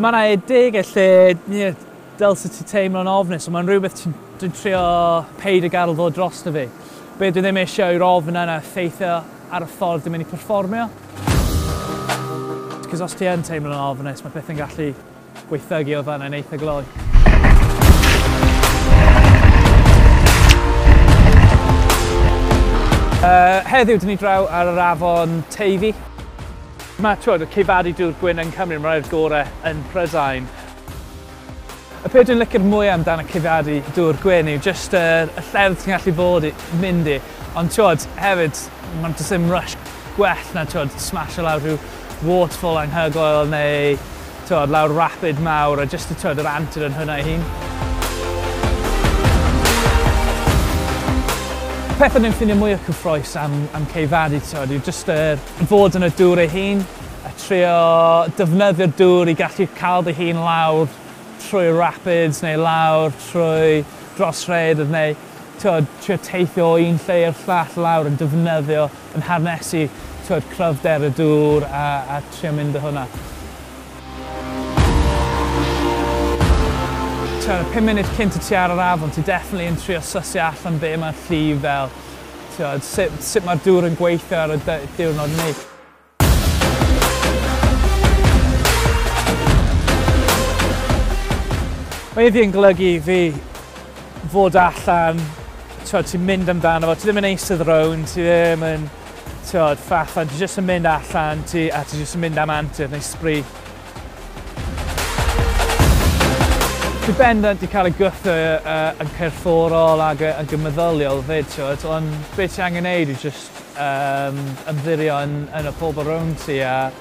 Mae yna edegau lle yeah, del sut ti'n teimlo'n ofnus, ond mae'n rhywbeth dwi'n trio peid y garl ddod dros dy fi. Be dwi ddim eisiau yw'r ofn yna effeithio ar y ffordd dwi'n mynd i performio. Cos os ti yn teimlo'n ofnus, mae pethau'n gallu Gweithdygi oedd fanna yn eitha gloi. Uh, heddiw, dyn ni draw ar yr afon Teifi. Mae twyd, y ceifadu dŵr gwyn yn Cymru, mae'r rhaid gorau yn Prydain. Y peth dwi'n licio'r mwy amdan y ceifadu dŵr gwyn yw jyst y, y llefydd ti'n gallu bod i, mynd i. Ond twyd, hefyd, mae'n dysyn rush gwell na twyd, smash o lawr rhyw waterfall anhygoel neu t'wod lawr rapid mawr a jyst y t'wod yr antur yn hwnna ei hun. Peth o'n i'n ffindio mwya cyffrous am am Cei Fari t'wod yw jyst yr fod yn y dŵr ei hun a trio defnyddio'r dŵr i gallu ca'l dy hun lawr trwy'r rapids neu lawr trwy dros rhaeadydd neu t'wod, trio teithio o un lle i'r llall lawr yn defnyddio, yn harnesu, t'wod, cryfder y dŵr a a trio mynd â hwnna. T'wod, y pum munud cynt i ti ar yr afon ti definitely yn trio sysio allan be' ma'r llif fel, t'wod, sut sut ma'r dŵr yn gweithio ar y dy- diwrnod 'ny. Mae iddi yn golygu fi fod allan, tiod, ti'n mynd amdano fo, ti ddim yn eisydd rown, ti ddim yn, tiod, ffafan, ti jyst yn mynd allan, ti, a ti jyst yn mynd am antur neu sbri. Ti bendant i cael y gwthio uh, yn cyrfforol ac yn gymeddyliol fyd, tiod, ond beth ti angen neud yw jyst Yym, ymddiririo yn yn y pobl rownd ti a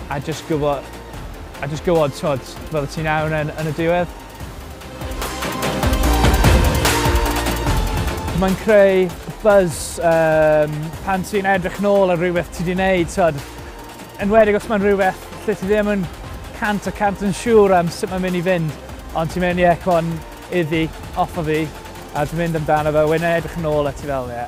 a jyst gwbo a jyst gwbod t'mod fyddet ti'n iawn yn yn y diwedd. Mae'n creu buzz yym pan ti'n edrych nôl ar rywbeth ti 'di neud t'od enwedig os mae'n rywbeth lle ti ddim yn cant y cant yn siŵr am sut mae'n mynd i fynd ond ti'n mynd ie c'mon iddi off a fi a ti'n mynd amdano fe a wedyn edrych yn ôl a ti fel ie